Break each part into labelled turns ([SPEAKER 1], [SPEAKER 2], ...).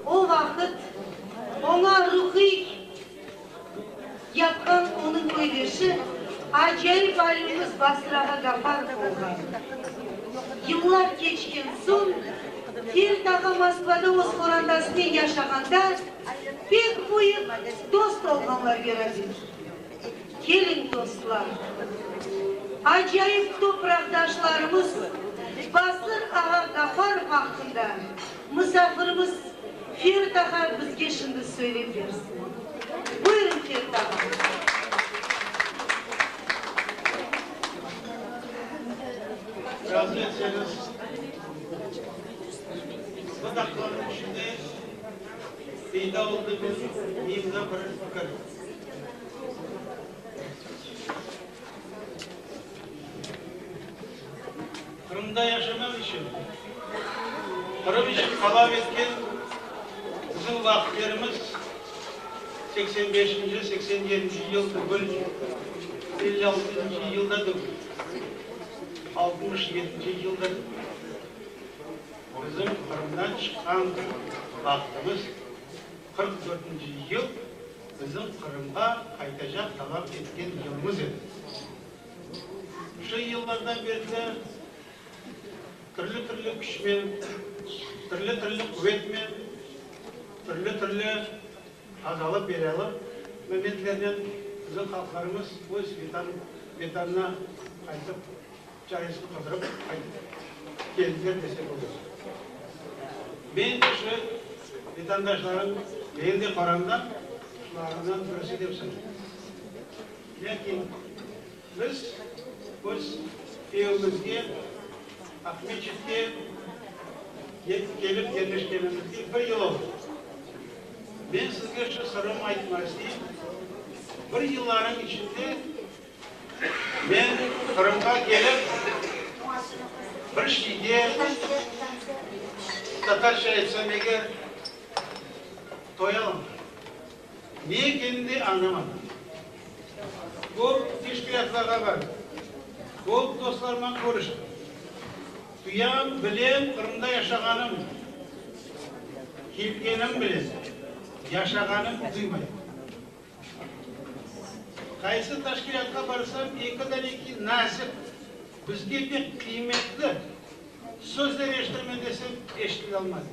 [SPEAKER 1] O vaqıt oña ruhiy yapqan onıñ köydeşi, acayip alimimiz Basır ağa Gafarov olğan. Yıllar keçken soñ, Feld ağa Moskvada öz qorantasınen yaşağanda pek büyük dost olğanlar, Veradin. Keliñ, dostlar, acayip topraqdaşlarımız Basır ağa Gafarov aqqında mısafirimiz Ferit ağa bizge şimdi söylep bersin. Buyurıñ, Ferit ağa.
[SPEAKER 2] Qırımda yaşamaq içün, Qırım içün talap etken bizim vaqıtlarımız seksen beşinci, seksen yedinci yıl tügül, elli altıncı yıl da tügül, altmış yedinci yıl da tügül. Bizim Qırımdan çıqqan vaqıtımız. Qırq dörtünci yıl bizim Qırımğa qaytacaq talap etken yılımız edi. Şu yıllardan beri de türlü-türlü küçmen, türlü-türlü quvetnen, türlü-türlü qazalı-belâlı momentlernen bizim halqlarımız öz Vetanına qaytıp, Çayıñız qıldırıp qaytıp keldiler dese bolır. Men de şu vetandaşlarım benim de qaramda şularından birisi dep sanayım. Lâkin biz öz evimizge Aqmescitke kelip yerleşkenimizge bir yıl oldı. Men sizge şu sırımı aytmaq isteyim, bir yıllarnıñ içinde Men Qırımğa kelip, bir şeyge, tatarca aytsam eger, toyalım. Ne ekenin de añlamadım. Köp teşkilâtlarğa bardım. Köp dostlarımnen körüştim. Tuyam bilen Qırımda yaşağanım, kelgenim bilen yaşağanım duymayım. Qaysı teşkilâtqa barsam, ekiden eki nasip, bizge pek qıymetli sözler eşitirmen desem, eşitile almadım.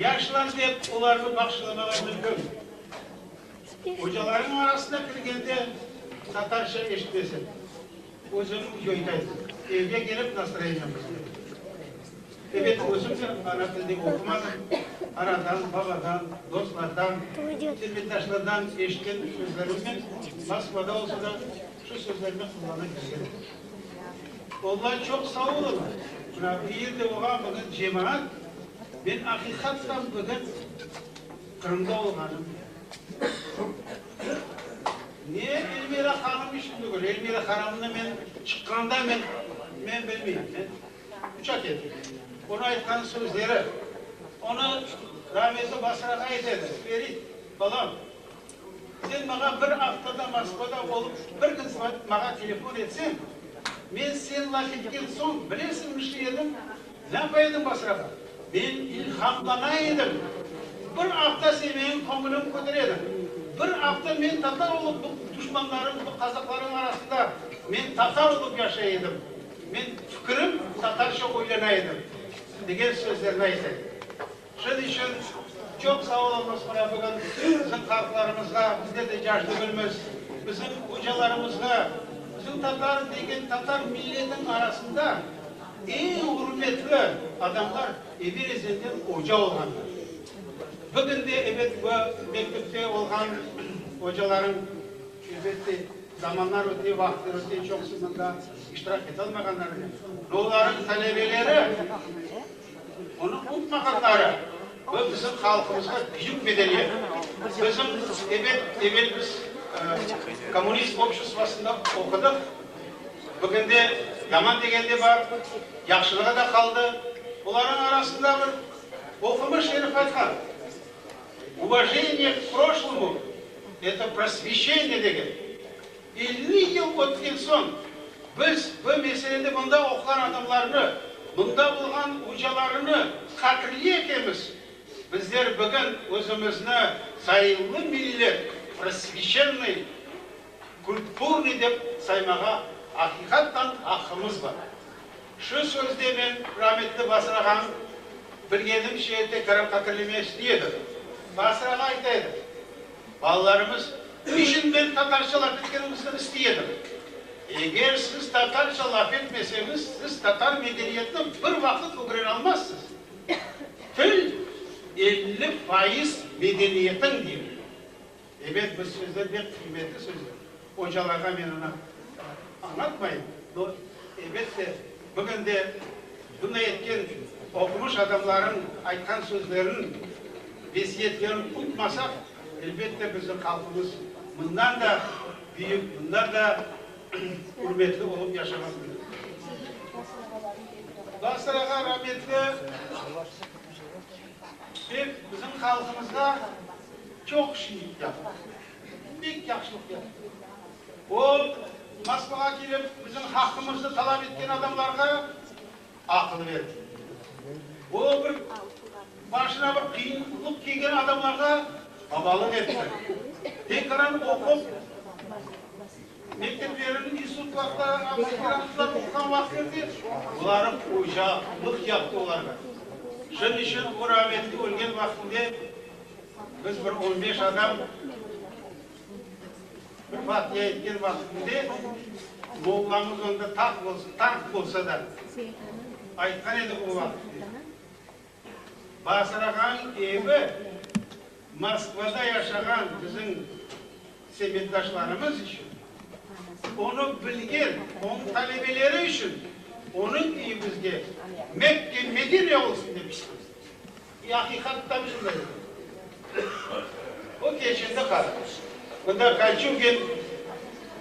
[SPEAKER 2] Yaşlan dep olarnı bağışlamağa bildim. Ocalarım arasına kirgende tatarca eşitmesem. Özüm köyden, evge kelip nastroyeniyemizde. Ebet, özüm de ana tilde oqumadım, anadan, babadan, dostlardan, silmetdaşlardan eşitken sözlerimnen Moskvada olsa da şu sözlerni qullana kelgen edim. Ollar çoq saolunlar, mına bu yerde olğan bugün cemaat, men aqiqattan bugün Qırımda olğanım. Ne Elmira hanım işim degil, Elmira hanımnı men çıqqanda men, men bilmeyim, men uçak edim. Onı aytqan sözleri, onı rahmetli Basır ağa aytedi, Ferit, balam, sen mağa bir aftada Moskvada olıp, bir kün mağa telefon etsen, men sen laf etken soñ, bilesiñmi, nişi edim? Napa edim başrağa? Men ilhamlana edim. Bir afta sen menim köñülim kötere ediñ. Bir afta men tatar olıp bu duşmanlarım, bu kazaklarım arasında men tatar olıp yaşay edim. Men fikirim tatarşa oylana edim, degen sözlerni ayta edi. Şunıñ içün çoq sağ oluñız, mına bugün bizim halqlarımızğa, bizge de yaş degilmiz, bizim ocalarımızğa, bizim tatar degen tatar milletiniñ arasında eñ ürmetli adamlar evel ezelden oca olğanlar. Bugün de, ebet, bu mektepte olğan ocalarıñ, elbette, zamanlar öte, vaqıtlar öte, çoqusı mında iştirak ete almağanlardır, olarıñ talebeleri, Onı unutmağanları bu bizim halqımızğa büyük medeniyet. Bizim ebet evel biz kommunist obşestvosında oqudıq. Bugün de yaman degen de bar, yahşılığı da qaldı. Bularnıñ arasında bir oqumış herif aytqan, Uvojeniye k proşlomu, eto prosveşeniye degen. Elli yıl ötken soñ, biz bu meselede mında oquğan adamlarnı, mında olğan ocalarını qatirli etemiz. Bizler bugün özümizni zayıllı millet, prosveçennıy, kulturnıy dep saymağa aqiqattan aqqımız bar. Şu sözde men rametli Basrağa-nı bilgenimce tekrar qatirlemeye istiy edim. Basrağa ayta edi, Balalarımız içün men tatarca laf etkenimizni istiy edim. Eger siz tatarca laf etmeseñiz, siz tatar medeniyetini bir vaqıt ögrene almazsız. Til, elli fayız medeniyetiñ, deyilgen. Ebet, bu sözler bek qıymetli sözler. Ocalarğa men onı añatmayım, no, ebet de, bugün de bunday etken oqumış adamlarnıñ aytqan sözlerin, vesiyetlerin unutmasaq, elbet de, bizim halqımız bundan da büyük, bundan da ürmetli olıp yaşamaq mümkün. Basırağa rametli. Ev bizim halqımızğa çoq işiñlik yaptı. Pek yahşılıq yaptı. O, Moskvağa kelip, bizim haqqımızdı talap etken adamlarğa aqıl berdi. O, bir başına bir qıyınlıq kelgen adamlarğa babalıq etti. Tekaran oqup, Mekteplerniñ institutlarında aspirantlar oquğan vaqıtlarında olarnıñ oca lıq yaptı olarğa. Şunıñ içün o rahmetli ölgen vaqıtında biz bir on beş adam bir fatiya etken vaqıtında mollamız onda tanq bolsa da aytqan edi o vaqıtında. Basırağan evi Moskvada yaşağan bizim sebetdaşlarımız içün, onı bilgen onıñ talebeleri içün onıñ üyi bizge Mekke, Medine olsun dep istemiz. E, aqiqat tam şunday oldı. O keçindi qaraq. Mında Kolçugin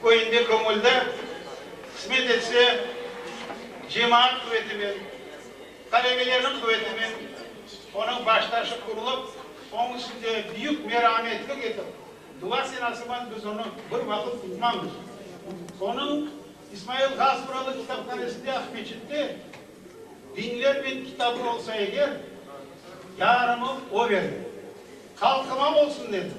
[SPEAKER 2] köyünde, Kömülde, qısmet etse, cemaat qüvetinen Talebelerniñ quvetinen onıñ baştaşı qurulup, oñ üstünde büyük merametlik etip, dua senasıban biz onı bir vaqıt unutmamız. Onıñ İsmail Gazmuralı kitaphanesinde Aqmeçitte biñlermen kitabı olsa eger, yarımı o verdi. Halqıma olsun dedim.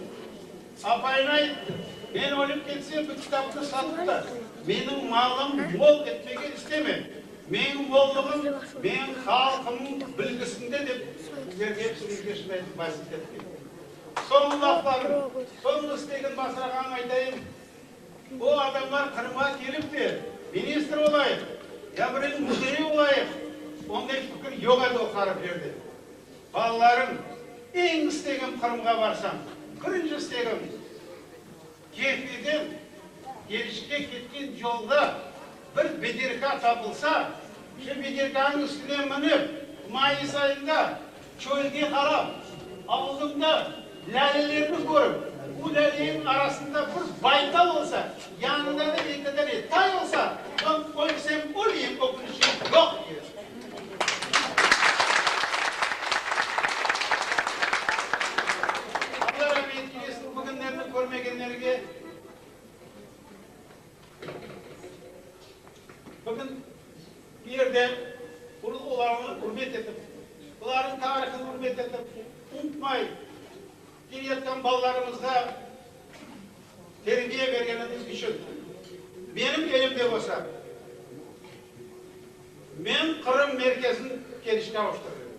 [SPEAKER 2] Apayına ayttım, men ölip ketsem, bu kitapnı satıp da, menim malım mol etmege istemem. Meñ mollığım, meñ halqımnıñ bilgisinde, dep sizlerge hepsine peşin aytıp vasiyet ettim. Soñu laflarım, soñu istegin basırağanım aytayım, bu adamlar Qırımğa kelip de, ministr olayıq, ya bireviñ müdiri olayıq, onday fikir yoq edi o hariflerde. Balalarım, eñ istegim Qırımğa barsam, birinci istegim, Kefeden Gelişke ketken yolda bir bederka tapılsa, şu bederkanıñ üstüne minip, mayıs ayında çölge qarap, aldımda Lâlelerni körip, bu lâlenin arasında bir baytal olsa, yanında da bir iki dane tay olsa, soñ ölsem öleyim, ökünişim yoq, deydi. Bugün bu yerde olarnı ürmet etip, olarnıñ tarihini ürmet etip, unutmay kelayatqan balalarımızğa terbiye bergenimiz içün menim elimde olsa, men Qırım merkezin Keriçke avuştırır edim.